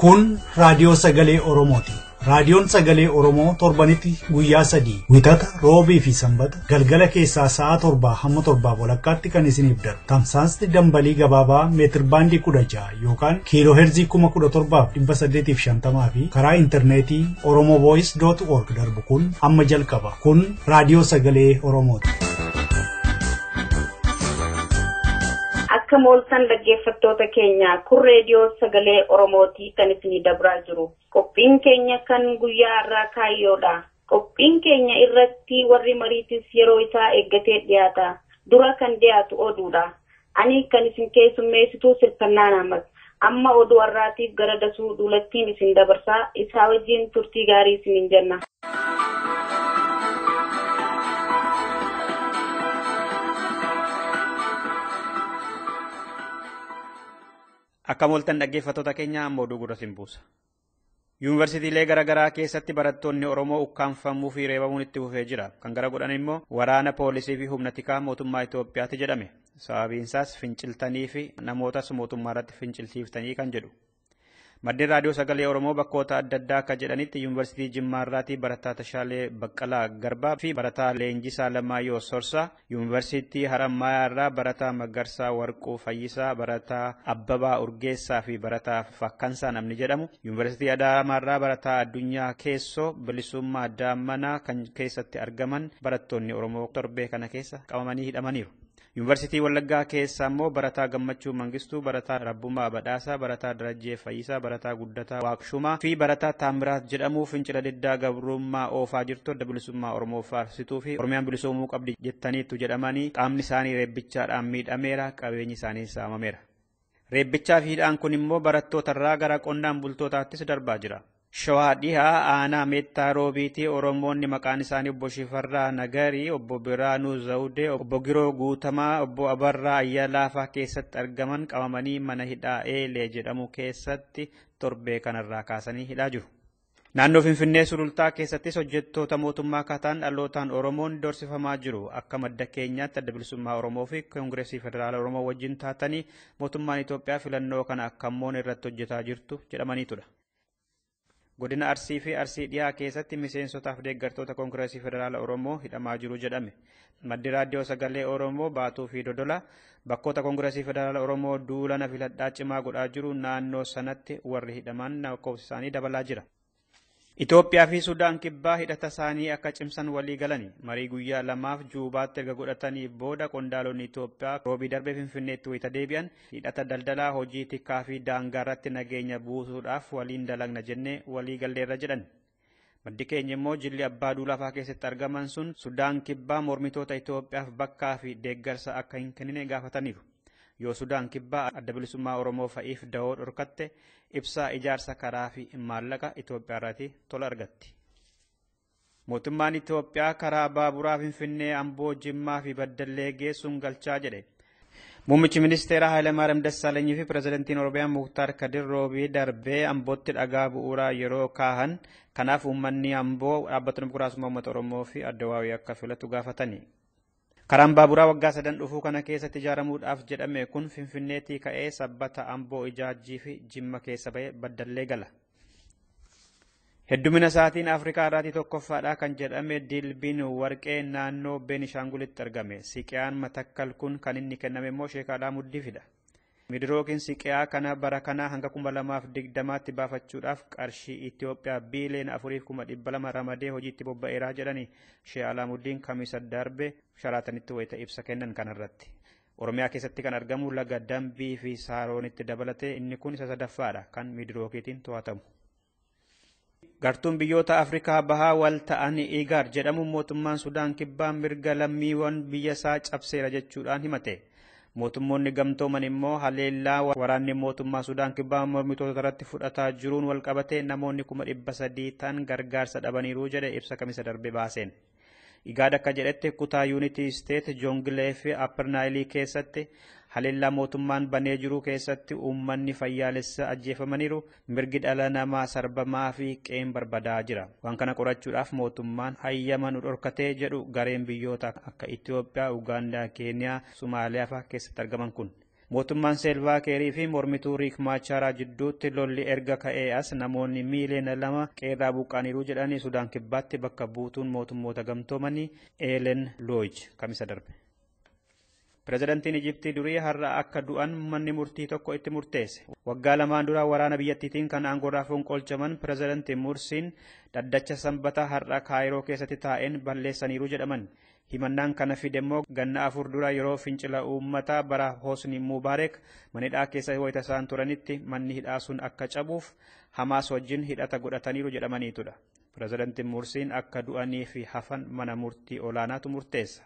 Kun raadiyoo sagalee Oromooti. Raadiyoon sagalee Oromoo torbanitti guyyaa sadii wixata roobii fi sanbata galgala keessaa sa'a torbaa hamma torbaa walakkaatti kan isiniif darbu. Tamsaasni dambalii gabaabaa meetir baandii kudha ja'a yookaan kiiloo heerzii kuma kudha torbaaf dhibba saddeetiif shantamaa fi karaa intarneetii Oromoo Voice.org darbu kun amma jalqaba. Kun raadiyoo sagalee Oromooti. Akka mooltan dhaggeeffattoota keenya kun reediyoo sagalee Oromootii kan isinii dabraa jiru. Qophiin keenya kan guyyaa irraa kaayyoodha. Qophiin keenya irratti warri mariitis yeroo isaa eeggatee dhiyaata. Dura kan dhiyaatu oduudha. Ani kan isin keessummeessituu sirkannaa naammas. Amma oduu arraatiif gara dasuu duulattiin isin dabarsa. Isaa wajjiin turtii gaarii isiniin jenna. Akkam ooltan dhaggeeffattoota keenya amma oduu gurra isin buusa. Yuunivarsiitiilee garaagaraa keessatti barattoonni Oromoo ukkaamfamuu fi reebamuun itti fufee jira. Kan gara godhan immoo waraana poolisii fi humna tikaa mootummaa Itoophiyaati jedhame. Sababiinsaas finciltanii fi namootas mootummaa irratti fincilsiiftanii kan jedhu. Maddeen Raadiyoo Sagalee Oromoo bakkoota adda addaa akka jedhanitti Yuunivarsiitii Jimmaa irraatii barataa Tashaalee Baqqalaa Garbaa fi barataa Leenjisaa Lamaayyoo Sorsaa Yuunivarsiitii Harammayaa irraa barataa Magarsaa Warquu Fayyisaa, barataa Abbabaa Urgeessaa fi barataa Fakkansaa namni jedhamu, Yuunivarsiitii Adaamaa irraa barataa Addunyaa Keessoo, Bilisummaa Daammanaa kan keessatti argaman barattoonni Oromoo torbee kana keessa qabamanii hidhamaniiru. Yuunivarsiitii Wallaggaa keessaa immoo barataa Gammachuu Mangistuu, barataa Rabbumaa Badhaasaa, barataa Darajjee Fayyisaa, Barataa Guddataa Waaqshumaa, fi Barataa Taammiraat jedhamu fincila diddaa gabrummaa oofaa jirtu Adda Bilisummaa Oromoo faarsituu fi Oromiyaan bilisoomuu qabdi jettaniittu jedhamanii qaamni isaanii reebbichaadhaan miidhameera, qabeenyi isaaniis saamameera. Reebbichaa fi hidhaan kun immoo barattootarraa gara qonnaan bultootaattis darbaa jira. Shawaa Dhihaa aanaa Meettaa Roobiitii Oromoonni maqaan isaanii obbo Shifarraa Nagarii, obbo Biraanuu Zawudee, obbo Giroo Guutamaa, obbo Abarraa Ayyalaa faa keessatti argaman qabamanii mana hidhaa Eelee jedhamu keessatti torbee kanarraa kaasanii hidhaa jiru. Naannoo Finfinnee Sulultaa keessattis hojjettoota mootummaa kataan dhalootaan Oromoon dorsifamaa jiru. Akka madda keenyaatti adda bilisummaa Oromoo fi Koongireesii Federaala Oromoo wajjin taatanii mootummaan Itoophiyaa filannoo kana akka moone irratti hojjetaa jirtu jedhamaniitudha. Godina Arsii fi Arsii dhiyaa keessatti miseensotaaf deeggartoota Koongireesii Federaala Oromoo hidhamaa jiru jedhame. Maddi Raadiyoo Sagalee Oromoo Baatuu fi Dodola bakkoota Koongireesii Federaala Oromoo duula na filadhaa cimaa godhaa jiru naannoo sanatti warri hidhaman lakkoofsi isaanii dabalaa jira. Itoophiyaa fi Sudaan kibbaa hidhata isaanii akka cimsan walii galani. Marii guyyaa lamaaf Juubaatti erga godhatanii booda qondaalonni Itoophiyaa roobii darbee Finfinneetti wayita deebi'an Hidhata daldalaa, hojii tikaa fi daangaarratti nageenya buusuudhaaf waliin dalagna jennee walii galleerra jedhan. Maddi keenya immoo jilli abbaa duulaa fa'aa keessatti argaman sun Sudaan Kibbaa mormitoota Itoophiyaaf bakkaa fi deeggarsa akka hin kennine gaafataniiru. Yoo Sudaan Kibbaa adda bilisummaa Oromoo fa'iif dahoo dhorkatte ibsaa ijaarsa karaa fi maallaqa Itoophiyaarraatii tola argatti. Mootummaan Itoophiyaa karaa baaburaa Finfinnee, Amboo, Jimmaa fi Baddallee geessuun galchaa jedhe. Muummichi ministeeraa Hayilamaariyaam Dassaalanyii fi pirezidantiin Oromiyaa Muktaar Kadir Roobii darbee Ambootti dhagaa bu'uuraa yeroo kaahan kanaaf uummanni Amboo dhaabbata dimokiraasummaa uummata Oromoo fi Addawaawii akka filatu gaafatani. Karaan baaburaa waggaa sadan dhufuu kana keessatti ijaaramuudhaaf jedhame kun Finfinneetii ka'ee Sabbata, Amboo, Ijaajjii fi Jimma keessa ba'ee Baddallee gala. Heddumina isaatiin Afrikaa irraatii tokkoffaadha kan jedhame Dilbiin Warqee naannoo Beenishaangulitti argame. Siqiyaan Matakkal kun kan inni kenname immoo Sheek Alaamuddiifidha. Midirookiin siqi'aa kana bara kanaa hanga 2020tti baafachuudhaaf qarshii Itiyoophiyaa biiliyoona afuriif kuma dhibba lama ramadee hojiitti bobba'eera jedhani Shee Alaamuddiin Kamisa darbe Sharaatanitti wayita ibsa kennan kanarratti. Oromiyaa keessatti kan argamu laga Dambii fi Saaroonitti dabalatee inni kun isa sadaffaadha kan Midirookiitiin to'atamu. Gartuun biyyoota Afrikaa bahaa wal ta'an Igaad jedhamu mootummaan Sudaan kibbaa mirga lammiiwwan biyya isaa cabseera jechuudhaan himate. Mootummoonni gamtooman immoo haleellaa waraanni mootummaa Sudaan kibbaa mormitoota irratti fudhataa jiruun walqabatee namoonni kuma dhibba sadii ta'an gargaarsa dhabaniiru jedhe ibsa kamisa darbe baaseen. Igaad akka jedhetti kutaa yuunitii isteet Joongilee fi Appar Naayilii keessatti haleellaa mootummaan banee jiru keessatti uummanni fayyaalessa ajjeefamaniiru, mirgi dhala namaa sarbamaa fi qeen barbadaa jira. Waan kana qorachuudhaaf mootummaan hayyama nu dhorkatee jedhu gareen biyyoota akka Itoophiyaa, Ugaandaa, Keeniyaa, Somaaliyaa fa'aa keessatti argaman kun. Mootummaan Seelvaa Keerii fi mormituu Riik Maachaaraa jidduutti lolli erga ka'ee as namoonni miiliyoona lama qeerraa buqqa'aniiru jedhanii Sudaan Kibbaatti bakka buutuun mootummoota gamtoomanii Eelen Looj kamisa darbe. Pirezidantiin Ijiptii durii har'a akka du'an manni murtii tokko itti murteesse. Waggaa lamaan dura waraana biyyattiitiin kan aangorraa fonqolchaman pirezidantiin Mursiin dhaddacha Sanbata har'a Kaayiroo keessatti taa'een balleessaniiru jedhaman. Himannaan kana fide immoo ganna afur dura yeroo fincila uummataa bara Hosni Mubaarek mana hidhaa keessa wayita isaan turanitti manni hidhaa sun akka cabuuf Hamaas wajjin hidhata godhataniiru jedhamaniitudha. Pirezidanti Mursiin akka du'anii fi hafan mana murtii olaanaatu murteessa.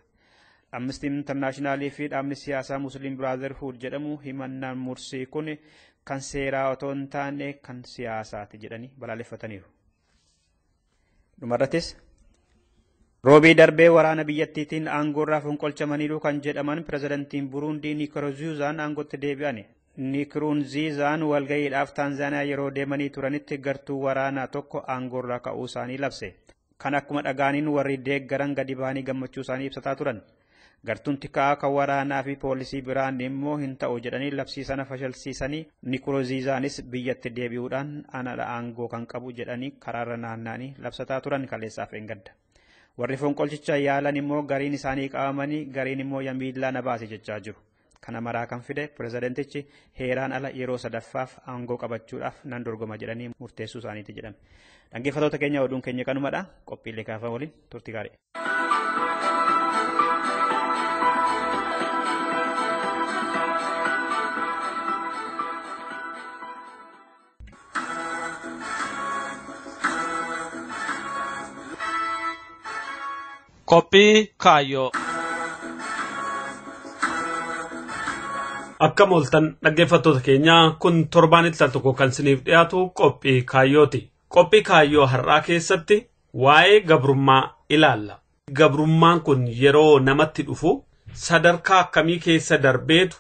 Amnesty International fi dhaabni siyaasaa Muslim Brotherhood jedhamu himannaan Mursii kun kan seeraa otoo hin taane kan siyaasaati jedhanii balaaleffataniiru. Dhumarrattis Roobii darbee waraana biyyattiitiin aangoorraa fonqolchamaniiru kan jedhaman pirezidantiin Buruundii Nikurunziizaan aangootti deebi'an. Nikurunziizaan walga'iidhaaf Taanzaaniyaa yeroo deemanii turanitti gartuu waraanaa tokko aangoorraa ka'uu isaanii labse. Kan akkuma dhaga'aniin warri deeggaran gadi bahanii gammachuu isaanii ibsataa turan. Gartuun tikaa kan waraanaa fi poolisii biraan immoo hin ta'u jedhanii labsii sana fashalsiisanii Nikuruziizaanis biyyatti deebi'uudhaan anadha aangoo kan qabu jedhanii karaarra naanna'anii labsataa turan kaleessaaf eengadda. Warri fonqolchicha yaalan immoo gariin isaanii qabamanii gariin immoo yamiillaa na baase jechaa jiru. Kana maraa kan fide pirezidantichi heeraan ala yeroo sadaffaaf aangoo qabachuudhaaf nan dorgoma jedhanii murteessuu isaaniiti jedhame. Dhaggeeffatoota keenya oduun keenya kanumadha. Qophiilee kaafan waliin turti gaarii. Qophii kaayyoo. Akka mooltan dhaggeeffattoota keenyaa kun torbaanitti al tokko kan isiniif dhiyaatu qophii kaayyooti. Qophii kaayyoo har'aa keessatti waa'ee gabrummaa ilaalla. Gabrummaan kun yeroo namatti dhufu sadarkaa akkamii keessa darbeetu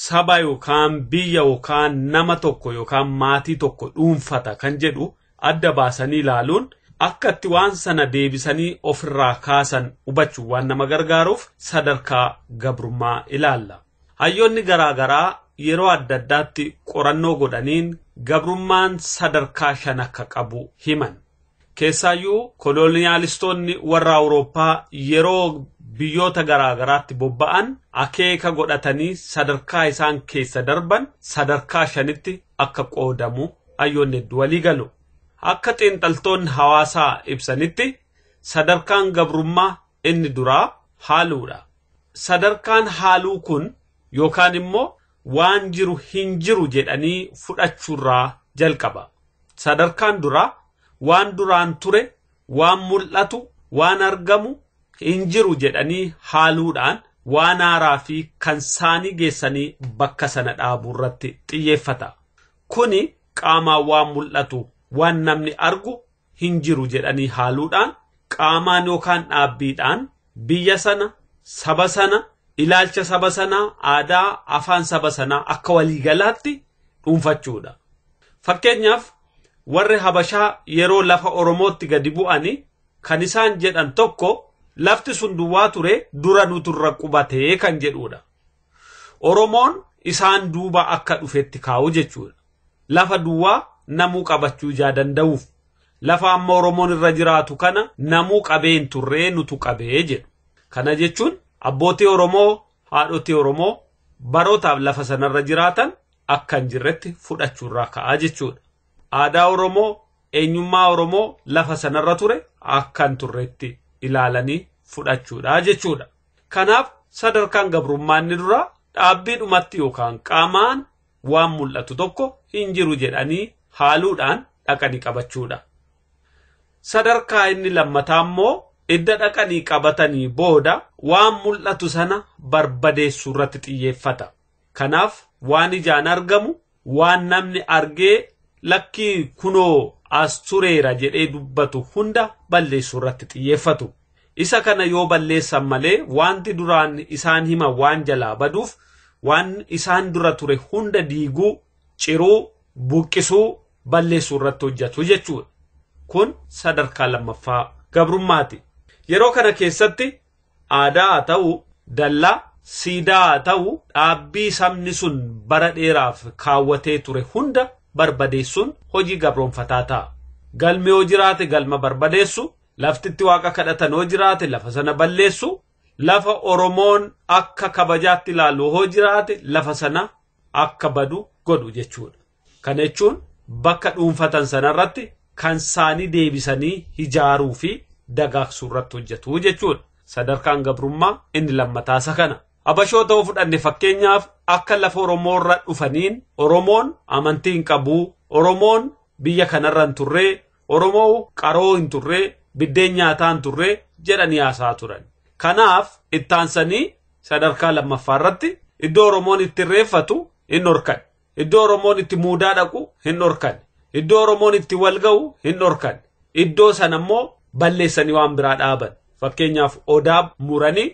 saba yookaan biyya yookaan nama tokko yookaan maatii tokko dhuunfata kan jedhu adda baasanii ilaaluun akka itti waan sana deebisanii ofirraa kaasan hubachuun waan nama gargaaruuf sadarkaa gabrummaa ilaalla. Hayyoonni garaa garaa yeroo adda addaatti qorannoo godhaniin gabrummaan sadarkaa shan akka qabu himan. Keessaayyuu koloniyaalistoonni warra Awurooppaa yeroo biyyoota garaa garaatti bobba'an akeeka godhatanii sadarkaa isaan keessa darban sadarkaa shanitti akka qoodamu hayyoonni hedduu walii galu. Akka xiinxaltoonni hawaasaa ibsanitti sadarkaan gabrummaa inni duraa haaluudha. Sadarkaan haaluu kun yookaan immoo waan jiru hin jiru jedhanii fudhachuurraa jalqaba. Sadarkaan duraa waan duraan ture, waan mul'atu, waan argamu hin jiru jedhanii haaluudhaan waan haaraa fi kan saanii geessanii bakka sana dhaabuu irratti xiyyeeffata. Kuni qaamaan waan mul'atu, waan namni argu hin jiru jedhanii haaluudhaan qaamaan yookaan dhaabbiidhaan biyya sana, saba sana, ilaalcha saba sanaa, aadaa, afaan saba sanaa akka waliigalaatti dhuunfachuudha. Fakkeenyaaf warri Habashaa yeroo lafa Oromootti gadi bu'ani kan isaan jedhan tokko lafti sun duwwaa ture dura nutu irra qubatee kan jedhuudha. Oromoon isaan duuba akka dhufetti kaa'u jechuudha. Lafa duwwaa namuu qabachuu ijaa danda'uuf lafa amma Oromoon irra jiraatu kana namuu qabee hin turree nutu qabee jedhu. Kana jechuun abbootii Oromoo, haadhotii Oromoo barootaaf lafa sanarra jiraatan akka hin jirretti fudhachuurraa ka'a jechuudha. Aadaa Oromoo, eenyummaa Oromoo lafa sanarra ture akka hin turretti ilaalanii fudhachuudha jechuudha. Kanaaf sadarkaan gabrummaa inni duraa dhaabbiidhumatti yookaan qaamaan waan mul'atu tokko hin jiru jedhanii haaluudhaan dhaqanii qabachuudha. Sadarkaa inni lammataa immoo idda dhaqanii qabatanii booda waan mul'atu sana barbadeessuu irratti xiyyeeffata. Kanaaf waan ijaan argamu waan namni argee lakkii kunoo as tureera jedhee dubbatu hunda balleessuu irratti xiyyeeffatu. Isa kana yoo balleessan malee waanti duraan isaan himan waan jalaa baduuf waan isaan dura ture hunda diiguu, ciruu, buqqisuu, balleessuu irratti hojjatu jechuudha. Kun sadarkaa lammaffaa gabrummaati. Yeroo kana keessatti Aadaa haa ta'u, dallaa, siidaa haa ta'u dhaabbii sabni sun bara dheeraaf kaawwatee ture hunda barbadeessuun hojii gabroomfataa ta'a. Galmi yoo jiraate galma barbadeessu, lafti itti waaqa kadhatan yoo jiraate lafa sana balleessu, lafa Oromoon akka kabajaatti ilaalu yoo jiraate lafa sana akka badu godhu jechuudha. Kana jechuun bakka dhuunfatan sana irratti kan isaanii deebisanii hijaaruu fi dagaagsuu irratti hojjetu jechuudha. Sadarkaan gabrummaa inni lammataa isa kana. Abashoota yoo fudhanne fakkeenyaaf akka lafa Oromoo irra dhufaniin Oromoon amantii hin qabu, Oromoon biyya kanarra hin turre, Oromoo qaroo hin turre, biddeen nyaataa hin turre jedhanii haasaa turan. Kanaaf ittaansanii sadarkaa lammaffaa irratti iddoo Oromoon itti irreeffatu hin horkan. Iddoo Oromoon itti muudaa dhaqu hin dhorkanne. Iddoo Oromoon itti wal ga'u hin dhorkanne. Iddoo sana immoo balleessanii waan biraa dhaaban. Fakkeenyaaf Odaa muranii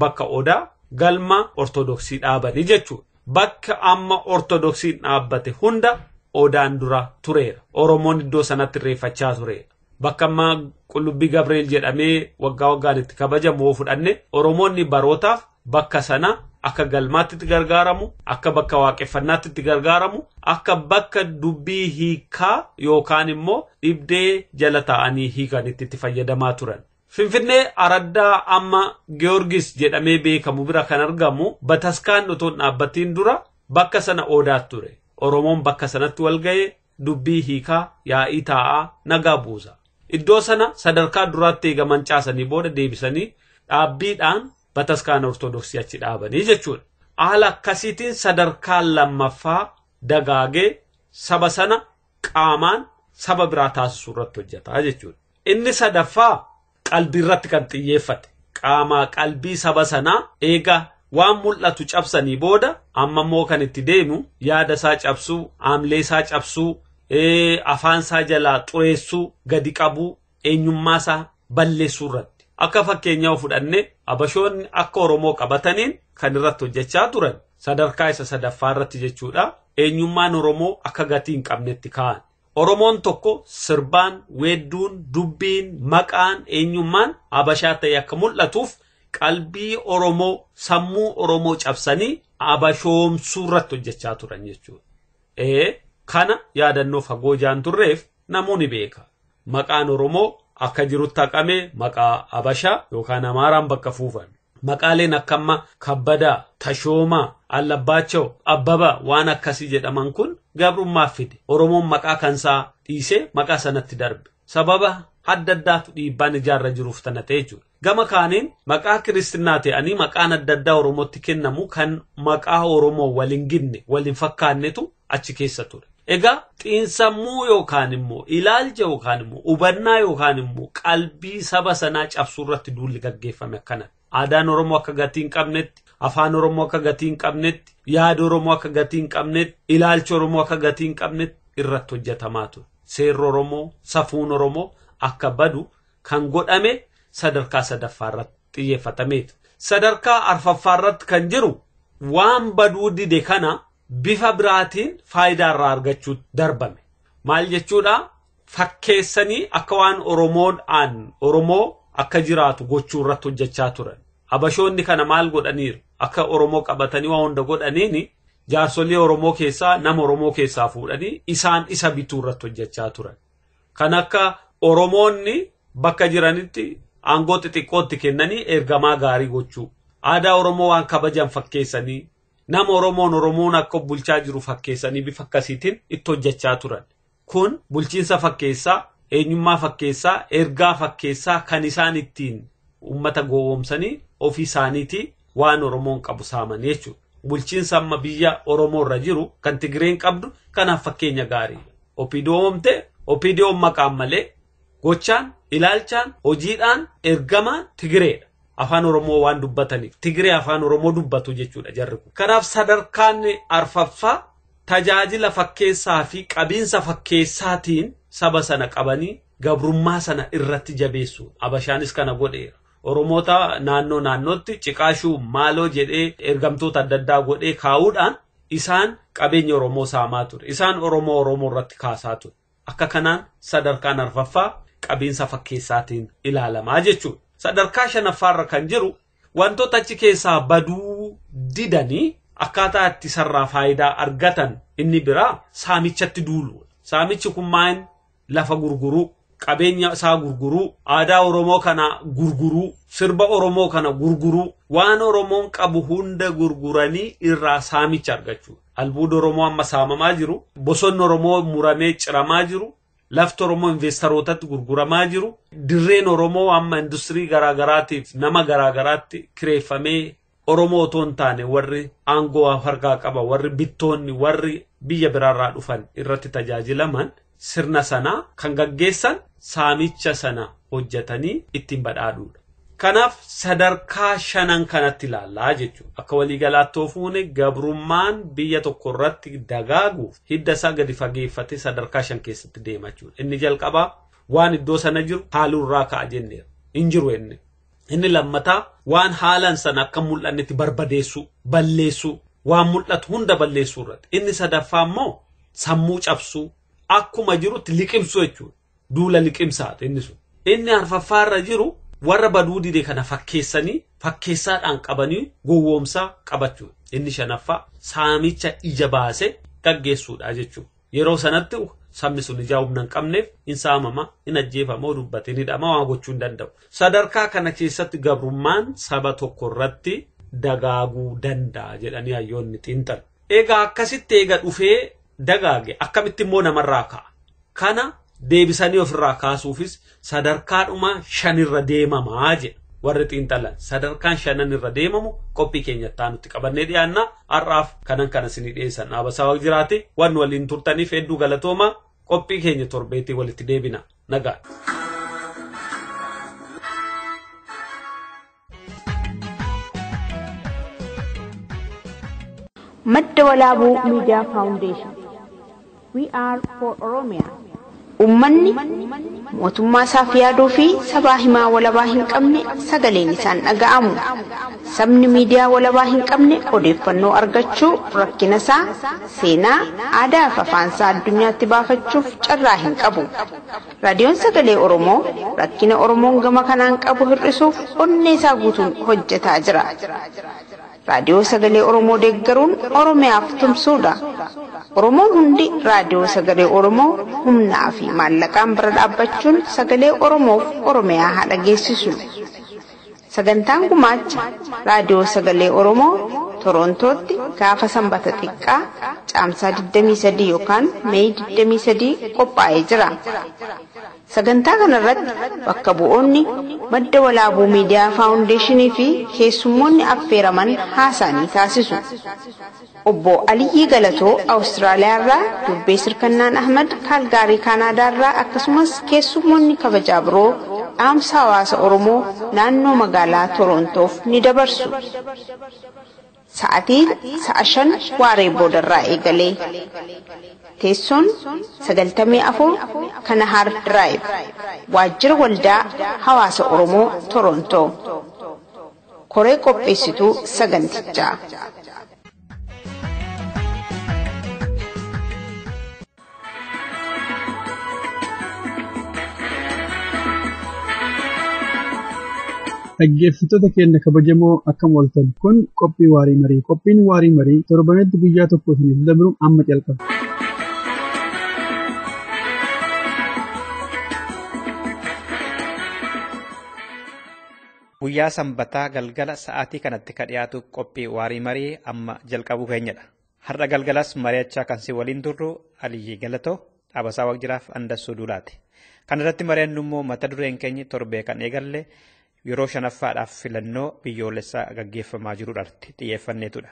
bakka Odaa galma Ortodoksii dhaabanii jechuudha. Bakka amma Ortodoksiin dhaabbate hunda Odaan dura tureera. Oromoon iddoo sanatti irreeffachaa tureera. Bakka ammaa Qullubbii Gabreel jedhamee waggaa waggaan itti kabajamu yoo fudhanne Oromoonni barootaaf bakka sana akka galmaatti itti gargaaramu, akka bakka waaqeffannaatti itti gargaaramu, akka bakka dubbii hiikaa yookaan immoo dhibdee jala taa'anii hiikanitti itti fayyadamaa turan. Finfinnee araddaa amma Giyoorgis jedhamee beekamu bira kan argamu bataskaan otoo hin dhaabbatiin dura bakka sana Odaat ture. Oromoon bakka sanatti wal ga'ee dubbii hiika, yaa'ii taa'aa, nagaa buusa. Iddoo sana sadarkaa duraatti eega mancaasanii booda deebisanii dhaabbiidhaan bataskaana Ortodoksii achi dhaabanii jechuudha. Haala akkasiitiin sadarkaan lammaffaa dagaagee saba sana qaamaan saba biraa taasisuu irratti hojjetaa jechuudha. Inni sadaffaa qalbii irratti kan xiyyeeffate qaamaa qalbii saba sanaa eega waan mul'atu cabsanii booda amma immoo kan itti deemu yaada isaa cabsuu aamlee isaa cabsuu afaan isaa jalaa xureessuu gadi qabuu eenyummaa isaa balleessuu irratti akka fakkeenyaa fudhanne abashoonni akka oromoo qabataniin kan irratti hojjechaa turan sadarkaa isa sadaffaa irratti jechuudha eenyummaan oromoo akka gatii hin qabnetti kaa'an Oromoon tokko sirbaan, weedduun, dubbiin, maqaan, eenyummaan Habashaa ta'ee akka mul'atuuf qalbii Oromoo, sammuu Oromoo cabsanii Habashoomsuu irratti hojjechaa turan jechuudha. Ee kana yaadannoo fagoo jaan turreef namuu ni beeka. Maqaan Oromoo akka jirutti haqamee maqaa Habashaa yookaan Amaaraan bakka fuufame. Maqaaleen akkamma Kabbadaa, Tashoomaa, Allabbaachaw, Abbaba waan akkasii jedhaman kun gabrummaaf fide. Oromoon maqaa kansaa dhiisee maqaa sanatti darbe. Sababa adda addaatu dhiibbaan ijaarra jiruuf tana ta'e jechuudha. Gama kaaniin maqaa kiristinnaa ta'anii maqaan adda addaa Oromootti kennamu kan maqaa Oromoo wal hin gidne, wal hin fakkaannetu achi keessa ture. Egaa xiinsammuu yookaan immoo ilaalcha yookaan immoo hubannaa yookaan immoo qalbii saba sanaa cabsuu irratti duulli gaggeeffame akkana. Aadaan Oromoo akka gatii hin qabnetti, afaan Oromoo akka gatii hin qabnetti, yaada Oromoo akka gatii hin qabnetti, ilaalcha Oromoo akka gatii hin qabnetti irratti hojjetamaa ture. Seerri Oromoo, safuun Oromoo akka badu kan godhame sadarkaa sadaffaa irratti xiyyeeffatameeti. Sadarkaa arfaffaa irratti kan jiru waan baduu dide kana bifa biraatiin faayidaa irraa argachuu darbame. Maal jechuudha? Fakkeessanii akka waan Oromoodhaan Oromoo akka jiraatu gochuu irratti hojjechaa turan. Habashoonni kana maal godhaniiru? Akka Oromoo qabatanii waan hunda godhaniin jaarsolii Oromoo keessaa nama Oromoo keessaa fuudhanii isaan isa bituu irratti hojjechaa turan. Kan akka Oromoonni bakka jiranitti aangoo xixiqqootti kennanii ergamaa gaarii gochuu. Aadaa Oromoo waan kabajan fakkeessanii Nama Oromoon Oromoon akka of bulchaa jiru fakkeessanii bifa akkasiitiin itti hojjechaa turan. Kun bulchiinsa fakkeessaa, eenyummaa fakkeessaa, ergaa fakkeessaa kan isaan ittiin uummata gowwoomsanii ofii isaaniitii waan Oromoon qabu saaman jechuudha. Bulchiinsa amma biyya Oromoo irra jiru kan Tigireen qabdu kanaaf fakkeenya gaariidha. Opiidoo oomte, Opiidiyoon maqaan malee Gochaan, ilaalchaan, hojiidhaan ergama Tigireedha. Afaan Oromoo waan dubbataniif Tigiree Afaan Oromoo dubbatu jechuudha jarri kun. Kanaaf sadarkaan arfaffaa tajaajila fakkeessaa fi qabiinsa fakkeessaatiin saba sana qabanii gabrummaa sana irratti jabeessuudha. Abashaanis kana godheera. Oromoota naannoo naannootti ciqaashuu maaloo jedhee ergamtoota adda addaa godhee kaa'uudhaan isaan qabeenya Oromoo saamaa ture. Isaan Oromoo Oromoo irratti kaasaa ture. Akka kanaan sadarkaan arfaffaa qabiinsa fakkeessaatiin ilaalamaa jechuudha. Sadarkaa shanaffaarra kan jiru wantoota achi keessaa baduu didanii akkaataa itti sarraa faayidaa argatan inni biraa saamichatti duuluudha. Saamichi kun maal lafa gurguruu, qabeenya isaa gurguruu, aadaa Oromoo kana gurguruu, sirba Oromoo kana gurguruu, waan Oromoon qabu hunda gurguranii irraa saamicha argachuu. Albuuda Oromoo amma saamamaa jiru, bosonni Oromoo muramee ciramaa jiru, lafti Oromoo investarootatti gurguramaa jiru, dirreen Oromoo amma industirii garaagaraatiif nama garaagaraatti kireeffamee Oromoo otoo hin taane warri aangoo harkaa qaba, warri bittoonni, warri biyya biraarraa dhufan irratti tajaajilaman sirna sana kan gaggeessan saamicha sana hojjetanii ittiin badhaadhuudha. Kanaaf sadarkaa shanan kanatti ilaallaa jechuudha. Akka waliigalaatti yoo fuune gabrummaan biyya tokko irratti dagaaguuf hidda isaa gadi fageeffatee sadarkaa shan keessatti deema jechuudha. Inni jalqabaa waan iddoo sana jiru haaluu irraa ka'a jenneera. Hin jiru inni. Inni lammataa waan haalan sana akka hin mul'annetti barbadeessuu, balleessuu, waan mul'atu hunda balleessuu irratti. Inni sadaffaa immoo sammuu cabsuu, akkuma jirutti liqimsuu jechuudha. Duula liqimsaati inni sun. Inni arfaffaa irra jiru warra baduu dide kana fakkeessanii fakkeessaadhaan qabanii gowwoomsaa qabachuudha. Inni shanaffaa saamicha ija baase gaggeessuudha jechuudha. Yeroo sanatti sabni sun ijaa humna hin qabneef hin saamama, hin ajjeefama, yoo dubbate hin hidhama, waan gochuu hin danda'u. Sadarkaa kana keessatti gabrummaan saba tokko irratti dagaaguu danda'a jedhanii hayyoonni xiinxalu. Egaa akkasitti eega dhufee dagaage akkamitti immoo namarraa ka'a? Kana deebisanii ofirraa kaasuufis sadarkaadhuma shanirra deemamaa jedha warri xiinxalan sadarkaan shanan irra deemamu qophii keenyatti aanutti qabannee dhiyaanna har'aaf kanan kana isinii dhiyeessan dhaabasaa waq jiraate waan waliin turtaniif hedduu galatoomaa qophii keenya torbeetii walitti deebina nagaa. Madda Walaabuu Miidiyaa Faawundeeshin We are for Oromia. Uummanni mootummaa isaaf yaaduu fi sabaa himaa walabaa hin qabne sagaleen isaan dhaga'amu. Sabni miidiyaa walabaa hin qabne odeeffannoo argachuu rakkina isaa seenaa, aadaa fi afaan isaa addunyaatti baafachuuf carraa hin qabu. Raadiyoon Sagalee Oromoo rakkina Oromoon gama kanaan qabu hir'isuuf onnee isaa guutuun hojjetaa jira. Raadiyoo Sagalee Oromoo deeggaruun Oromiyaaf tumsuudha. Oromoon hundi Raadiyoo Sagalee Oromoo humnaa fi maallaqaan bira dhaabbachuun sagalee Oromoof Oromiyaa haa dhageessisu. Sagantaan gumaacha Raadiyoo Sagalee Oromoo Toroontootti gaafa Sanbata Xiqqaa Caamsaa 23 yookaan Meey 23 qophaa'ee jira. Sagantaa kanarratti bakka bu'oonni Madda Walaabuu Miidiyaa Faawundeeshinii fi keessummoonni affeeraman haasaa ni taasisu. Obbo Aliyyii Galatoo Awustiraaliyaa irraa, Durbee Sirkannaan Ahmad Kaalgaarii Kaanaadaa irraa akkasumas keessummoonni kabajaa biroo dhaamsa hawaasa Oromoo naannoo magaalaa Toroontoof ni dabarsu. Sa'atii sa'a shan waaree boodarraa eegalee. Teessoon 94 Kanahaar Diraayib. Waajjira Waldaa Hawaasa Oromoo Toroontoo. Koree qopheessituu sagantichaa. Dhaggeeffattoota keenya kabajamoo akkam ooltan kun qophii waarii marii qophiin waarii marii torbanitti guyyaa tokko isiniif dabru amma calqaba. Guyyaa Sanbataa galgala sa'aatii kanatti ka dhiyaatu qophii waarii marii amma jalqabuu keenyadha. Har'a galgalas mari'achaa kan si waliin turru Aliyyii Galatoo Dhaabasaa Waaqjiraaf Andassuu Duulaati. Kan irratti mari'annu immoo mata dureen keenyi torbee kan eegalle yeroo shanaffaadhaaf filannoo biyyoolessaa gaggeeffamaa jiru irratti xiyyeeffanneetudha.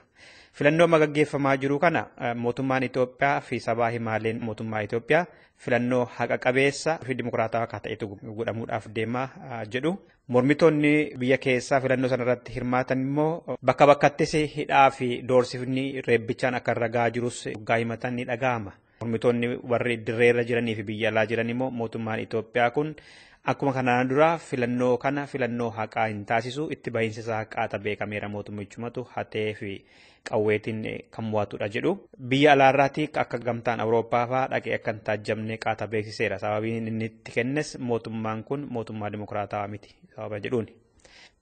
Filannoo amma gaggeeffamaa jiru kana mootummaan Itoophiyaa fi sabaa himaaleen mootummaa Itoophiyaa filannoo haqa qabeessa fi dimokiraatawaa akka ta'etu godhamuudhaaf deemaa jedhu. Mormitoonni biyya keessaa filannoo sana irratti hirmaatan immoo bakka bakkattis hidhaa fi doorsifni reebbichaan akka irra gahaa jirus dhugaa himatan ni dhaga'ama. Mormitoonni warri dirree irra jiranii fi biyya alaa jiran immoo mootummaan Itoophiyaa kun akkuma kanaan dura filannoo kana filannoo haqaa hin taasisu itti bahiinsa isaa haqaata beekameera mootummichumatu hatee fi qawweetiin kan mo'atudha jedhu. Biyya alaarraati akka gamtaan Awurooppaa fa'aa dhaqee akka hin taajjabne qaata beeksiseera. Sababiin inni itti kennes mootummaan kun mootummaa dimokiraatawaa miti sababa jedhuun.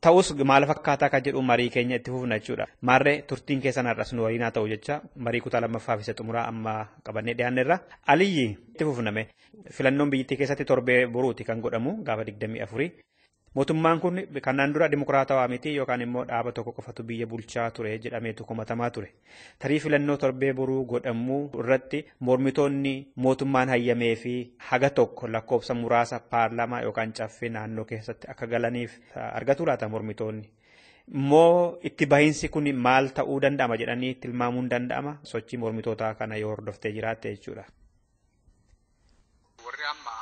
Ta'us maal fakkaataa akka jedhu marii keenya itti fufna jechuudha. Maarree turtiin keessan har'as nu waliin haa ta'u jecha marii kutaa lammaffaa fi isa xumuraa amma qabannee dhiyaanneerra. Aliyyi itti fufname filannoon biyyattii keessatti torbee boruuti kan godhamu gaafa 24. Mootummaan kun kanaan dura dimokiraatawaa miti yookaan immoo dhaaba tokko qofatu biyya bulchaa ture jedhameetu komatamaa ture. Tarii filannoo torbee boruu godhamu irratti mormitoonni mootummaan hayyamee fi haga tokko lakkoofsa muraasa paarlaamaa yookaan caffee naannoo keessatti akka galaniif argatu laata mormitoonni. Immoo itti bahiinsi kun maal ta'uu danda'ama jedhanii tilmaamuun danda'ama sochii mormitootaa kana yoo hordoftee jiraatte jechuudha. Warri amma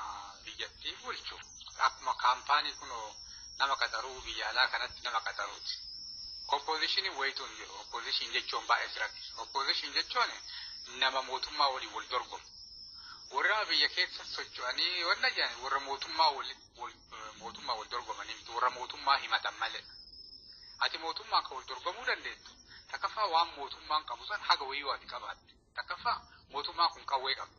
biyyattii bulchu akkuma kaampaanii kunoo nama qaxaruu biyya alaa kanatti nama qaxaruuti. Oppoozishinii wayitu hin jiru. Oppoozishin jechuun baay'ee sirratti. Oppoozishin jechuun nama mootummaa waliin wal dorgomu. Warra biyya keessa socho'anii wanna jedhan warra mootummaa mootummaa wal dorgomanii miti warra mootummaa himatan malee. Ati mootummaa akka wal dorgomuu dandeettu takkaffaa waan mootummaan qabu san haga wayii waati qabaatte. Takkaffaa mootummaan kun qawwee qaba.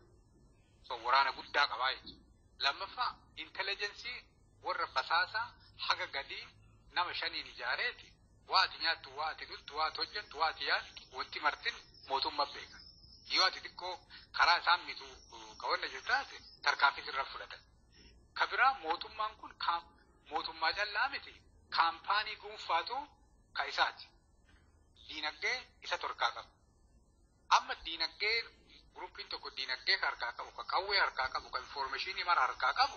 So waraana guddaa qabaa jechuudha. Lammaffaa intelligensii warra basaasaa haga gadii nama shaniin ijaareeti waa ati nyaattu, waa ati dhugdu, waa ati hojjettu, waa ati yaaddu wanti martin mootummaa beeka. Yoo ati xiqqoo karaa isaan mitu qabanna jirtu taate tarkaanfii sirra fudhatan. Ka biraa mootummaan kun kaam- mootummaa callaa miti kaampaanii dhuunfaatu ka isaati. Diinagdee isa torkaa qaba. Amma diinagdee guruppiin tokko diinagdee ka harkaa qabu, ka qawwee harkaa qabu, ka infoormeeshinii mara harkaa qabu,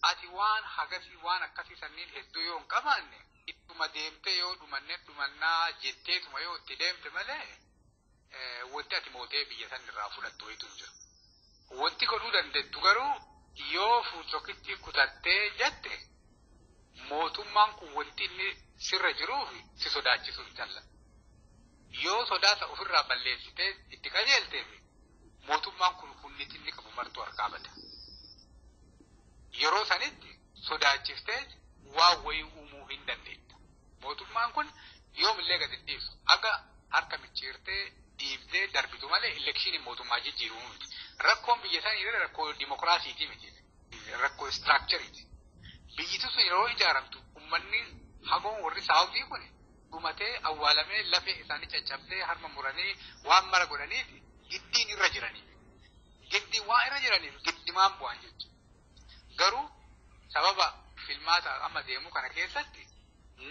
ati waan hagasii waan akkasii sanniin hedduu yoo hin qabaanne ittuma deemtee yoo dhumanne dhumannaa jetteetuma yoo itti deemte malee wanti ati mootee biyya san irraa fudhattu wayitu hin jiru. Wanti godhuu dandettu garuu yoo fuuchokittii kutattee jette mootummaan kun wanti inni sirra jiruuf si sodaachisuu hin jaalladhu. Yoo sodaa isa ofirraa balleessitee itti qajeelteef mootummaan kun humni xinni qabu martuu harkaa bada. Yeroo sanitti sodaachiftee waan wayii uumuu hin dandeetta. Mootummaan kun yoomillee gad hin dhiisu. Aga harka micciirtee dhiibdee darbitu malee elekshiiniin mootummaa jijjiiruu miti. Rakkoon biyya sanii irra rakkoo dimokiraasiitii miti. Rakkoo istiraakchariiti. Biyyiti sun yeroo ijaaramtu uummanni hagoon warri saawutii kun dhumatee awwaalamee lafee isaanii caccabsee harma muranii waan mara godhaniif giddiin irra jiraniif giddiin waan irra jiraniif giddimaan bu'an jechuudha. Garuu sababa filmaata amma deemu kana keessatti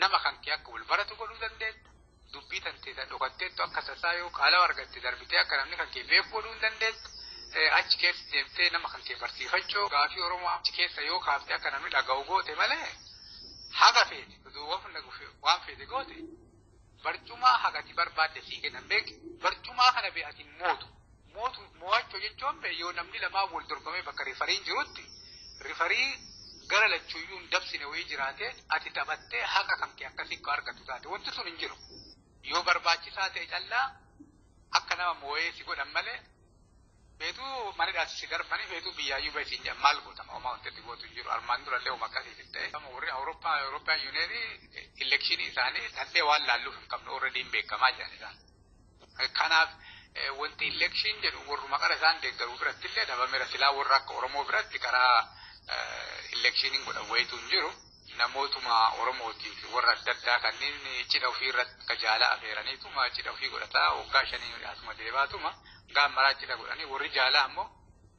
nama kan kee akka wal baratu godhuu dandeetta. Dubbii tanteessa dhokatteettu akka tasaa yoo qaalawa argatte darbitee akka namni kan kee beeku godhuu dandeetta. Achi keessa deemtee nama kan kee barsiifachuu gaafii Oromoo achi keessa yoo kaaftee akka namni dhaga'u goote malee haga feete. Odoo waan hunda gufe waan feete goote barcumaa hagati barbaadde sii kennan beeki barcumaa kana bee ati mootu mootu moo'achuu jechuun bee yoo namni lamaa wal dorgomee bakka rifariin jirutti rifarii gara lachuuyyuu hin dabsine wayii jiraate ati taphattee haqa kan kee akkasii akka argattu taate wanti sun hin jiru yoo barbaachisaa ta'e callaa akka nama moo'ee si godhan malee Feetuu mana dhaatti si darbanii feetuu biyyaayyuu bahi siin jedhan maal goota homaa wanti itti gootu hin jiru armaan dura illee homa akkasii hin ta'e. Amma warri Awurooppaa Awurooppaan yuuniyeenii elekshinii isaanii tattee waan laalluuf hin qabne warra diin beekamaa jiran isaan. Kanaaf wanti elekshin jedhu warruma qara isaan deeggaruu biratti illee dhabameera silaa warra akka Oromoo biratti karaa elekshiniin godhan wayitu hin jiru. namootuma Oromootiif warra adda addaa kanneen cidha ofii irratti ka jaalaa afeeraniituma cidha ofii godhataa waggaa shanii hidhaatuma deebaatuma gaa maraa cidha godhanii warri jaalaa ammoo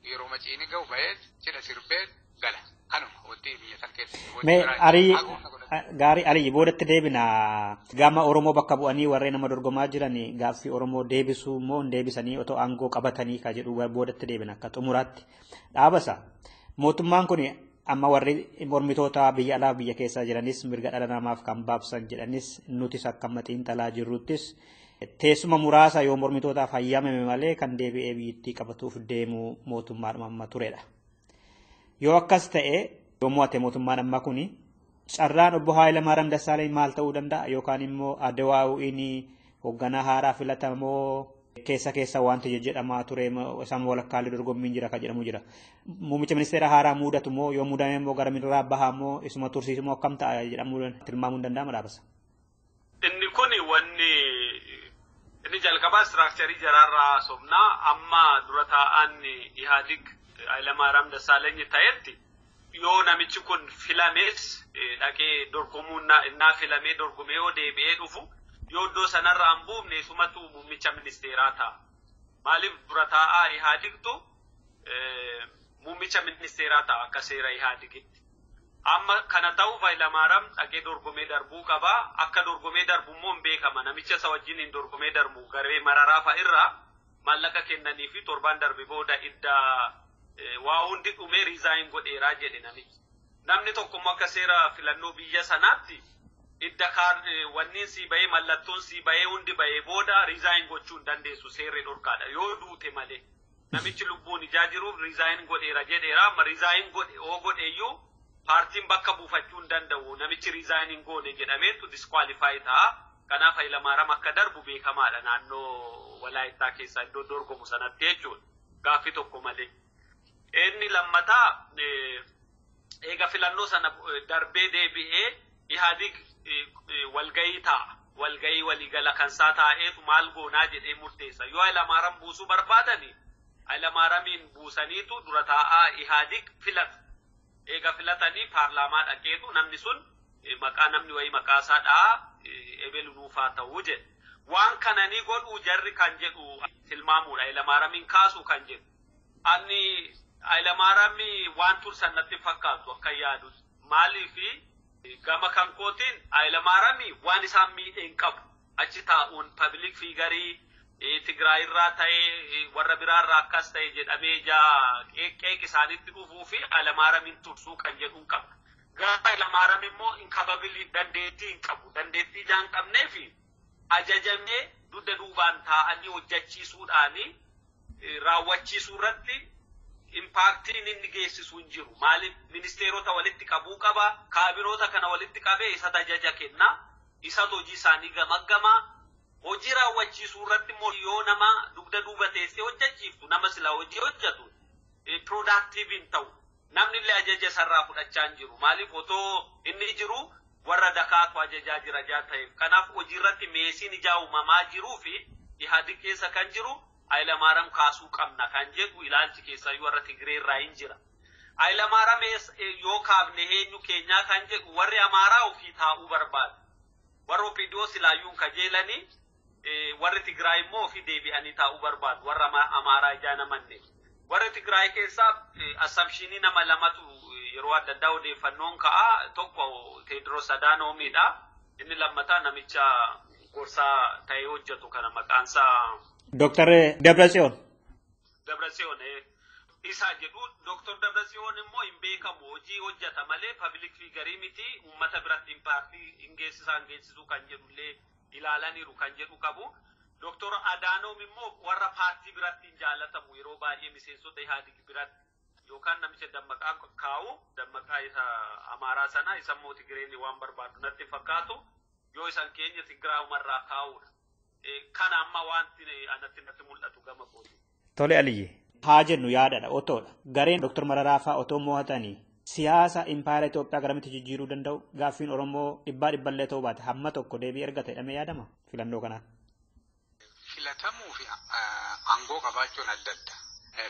yeroo maciini ga'u ba'ee cidha sirbee gala kanuma wanti biyya san keessatti wanti Mee biraa arii hin jiru. Haguugna gaarii arii boodatti deebina gama Oromoo bakka bu'anii warreen nama dorgomaa jiran gaaffii Oromoo deebisuu immoo hin deebisanii otoo aangoo qabatanii ka jedhu boodatti deebina akka xumuraatti. Dhaabasa. Mootummaan kun amma warri mormitoota biyya alaa biyya keessaa jiranis mirga dhala namaaf kan baabsan jedhanis nutis akka amma xiinxalaa jirruttis teessuma muraasa yoo mormitootaaf hayyamame malee kan deebi'ee biyyattii qabatuuf deemu mootummaadhuma amma turedha. Yoo akkas ta'e yoo mo'ate mootummaan amma kun carraan obbo Haayilamaaram Dassaaleny maal ta'uu danda'a yookaan immoo Adawaawiin hoogganaa haaraa filatamoo keessa keessa wanti jedhamaa ture isaan walakkaalee dorgommiin jira kan jedhamu jira. Muummicha ministeera haaraa muudatu immoo yoo muudame immoo gara miiraa bahaa immoo isuma tursiisu immoo akkam ta'a jedhamu tilmaamuun danda'ama dhaabasa. Inni kun wanni inni jalqabaa istiraakcharii jaraarraa haasofnaa amma dura taa'aan Ihaadig Hayilamaariyaam Dassaalenyi ta'etti Yoo namichi kun filamees dhaqee dorgomuu innaa filamee dorgomee yoo deebi'ee dhufu yoo iddoo sanarraa hin buufne isumatu muummicha ministeeraa ta'a. Maaliif dura taa'aa Ihaadigtu muummicha ministeeraa ta'a akka seera Ihaadigitti. Amma kana ta'uuf Hayilamaaraam dhaqee dorgomee darbuu qaba. Akka dorgomee darbu immoo hin beekama. Namicha isa wajjin hin dorgomee darbu garee mararaa fa'a irraa maallaqa kennanii fi torbaan darbe booda idda waa hundi dhumee resign godheeraa jedhe namichi. Namni tokko immoo akka seera filannoo biyya sanaatti idda kaard wanniin sii bahee mallattoon sii bahee hundi bahee booda resign gochuu hin dandeessu seerri dhorkaadha yoo duute malee. Namichi lubbuun ijaa jiruuf resign godheera jedheera amma resign godhe oo godheeyyuu paartiin bakka buufachuu hin danda'u namichi resign hin goone jedhameetu disqualify ta'a. Kanaaf Hayilamaaram akka darbu beekamaadha naannoo Walaayittaa keessaa iddoo dorgomu sanatti jechuudha. Gaaffii tokko malee. Inni lammataa eega filannoo sana darbee deebi'ee Ihaadig walgahii taa'a. Walgahii waliigala kan isaa taa'eetu maal goonaa jedhee murteessa. Yoo Hayilamaaram buusuu barbaadani Hayilamaaramiin buusaniitu dura taa'aa Ihaadig filatu. Eega filatanii paarlaamaa dhaqeetu namni sun maqaa namni wayii maqaa isaa dha'a ebelu nuuf haa ta'u jedhe. Waan kana ni godhuu jarri kan jedhu tilmaamuudha. Hayilamaaramiin kaasuu kan jedhu. Anni Hayilamaarami waan tursan natti hin fakkaatu akka yaadu. Maaliif gama kan kootiin Hayilamaarami waan isaan miidhe hin qabu. achi taa'uun pabilik fiigarii Tigraay irraa ta'ee warra biraa irraa akkas ta'e jedhamee ijaa qeeq isaanitti dhufuu fi Alamaaramiin tursuu kan jedhuun qaba. Gaafa Alamaaram immoo inkapabilii dandeettii hin qabu. Dandeettii ijaa hin qabnee fi ajajamee dugda duubaan taa'anii hojjechiisuudhaan raawwachiisuu irratti impaaktiin inni geessisu hin jiru. Maaliif ministeerota walitti qabuu qaba, kaabinoota kana walitti qabee isa tajaja kenna. Isatu hojii isaa ni gamaggama. Hojii raawwachiisuu irratti immoo yoo nama dugda duuba teessee hojjechiiftu nama silaa hojii hojjetu productive hin ta'u. Namni illee ajaja isarraa fudhachaa hin jiru. Maaliif otoo inni jiru warra dakaatu ajajaa jira jaa ta'eef. Kanaaf hojii irratti meesiin ijaa uumamaa jiruu fi Ihaadig keessa kan jiru Hayilamaaram kaasuu qabna kan jedhu ilaalchi keessaayyuu warra Tigiree irraa hin jira. Haylamaaram yoo kaafne heenyu keenyaa kan jedhu warri Amaaraa ofii taa'uu barbaadu. Warri OPDO silaayyuu hin kajeelanii warri Tigraay immoo ofii deebi'anii taa'uu barbaadu. Warra Amaaraa ijaa namanne. Warri Tigraay keessaa assamshiinii nama lamatu yeroo adda addaa odeeffannoon ka'a. Tokko Teediroos Adaanoomiidha. Inni lammataa namicha gorsaa ta'ee hojjetu kana maqaansaa. Dooktar Dabratsiyoon. Dabratsiyoon isa jedhu Dr. Dabratsiyoon immoo hin beekamu hojii hojjeta malee pabilik fiigarii miti uummata biratti impaaktii hin geessisaa hin geessisuu kan jedhullee ilaalaniiru kan jedhu qabu. Dr. Adaanoom immoo warra paartii biratti hin jaalatamu yeroo baay'ee miseensota Ihaadig biratti yookaan namicha dammaqaa kaa'u dammaqaa isa Amaaraa sana isa immoo Tigireen waan barbaadu natti fakkaatu yoo isan keenya Tigiraamarraa kaa'uudha. Kana amma wanti anatti natti mul'atu gama kooti. Tole Aliyye. Haa jennu yaadadha otoodha. Gareen Dr. Mararaa fa'aa otoo mo'atanii siyaasa impaayera Itoophiyaa garamitti jijjiiruu danda'u gaaffiin Oromoo dhibbaa dhibballee ta'uu baate hamma tokko deebii ergata jedhamee yaadama filannoo kanaan. Filatamuu fi aangoo qabaachuun adda adda.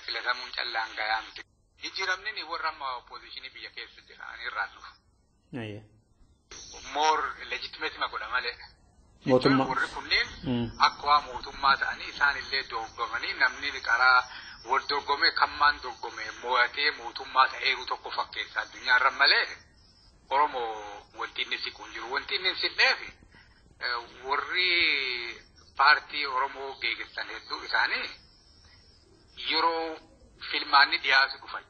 Filatamuun callaan gayaa miti. Jijjiiramni warra amma oppoozishinii biyya keessa jira ani irraan dhufu. Ayyee. more legitimate ma godha malee. Mootummaa. Warri kunneen Mm. akkuma mootummaa ta'anii isaan illee dorgomanii namni qaraa wal dorgomee kan maan dorgome mo'atee mootummaa ta'eeru tokko fakkeessa addunyaa irra malee Oromoo wanti inni siqu hin jiru. Wanti inni hin siqneef eh, warri paartii Oromoo geeggessan hedduu isaanii yeroo filmaanni dhiyaatu dhufan.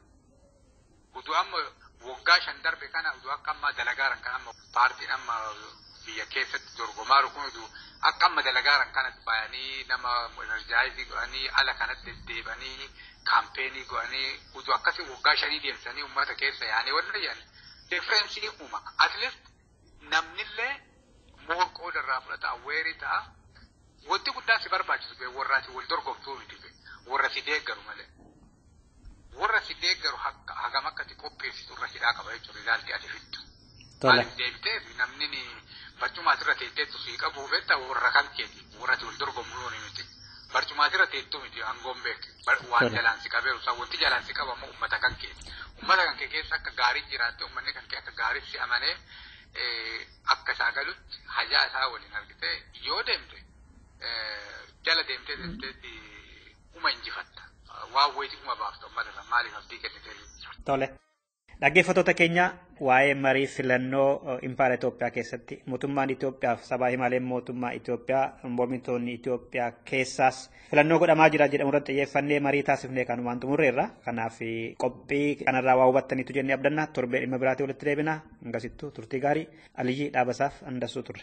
Utuu amma waggaa shan darbe kana utuu akka ammaa dalagaaran kan amma paartiin amma biyya keessatti dorgomaaru kun utuu akka amma dalagaaran kanatti bayanii nama enerjaayizii godhanii ala kanatti deddeebanii kaampeenii godhanii utuu akkasii waggaa shanii deemsanii uummata keessa yaanii wanni jedhan differensiin uuma. At least Namnillee more qooda irraa fudhata aware ta'a. Wanti guddaan si barbaachisu bee warra ati wal dorgomtuu miti bee warra si deeggaru malee. Warra si deeggaru hakka- hagam akka ati qopheessitu irra hidhaa qaba jechuudha ilaalti ati fiddu. Tola. Maaliif deebitee namni ni barcumaa asirra teessee sii qabuu beektaa warra kan keeti warra ati wal dorgomuu yoo miti. Barcumaatira teettu miti aangoon beek. Waan jalaan si qabeeru isaa wanti jalaan si qabu ammoo uummata kan kee. Uummata kan kee keessa akka gaariin jiraatte uummanni kan kee akka gaariin si amanee akka isaa galutti hajaa isaa waliin argitee yoo deemte jala deemtee deemteetti uma injifatta. Waan wayitii uma baafta uummata sana maaliif abdii kennitee. Tole. Dhaggeeffattoota keenya waa'ee marii filannoo impaayera Itoophiyaa keessatti mootummaan Itoophiyaa fi sabaa himaaleen mootummaa Itoophiyaa mormitoonni Itoophiyaa keessaas filannoo godhamaa jira jedhamu irratti xiyyeeffannee marii taasifnee kan waan xumurreerra. Kanaaf qophii kanarraa waa hubattaniitu jennee abdanna torbee dhimma biraatii walitti deebina hangasittuu turtii gaarii aliyyii dhaabasaaf handasuu turre.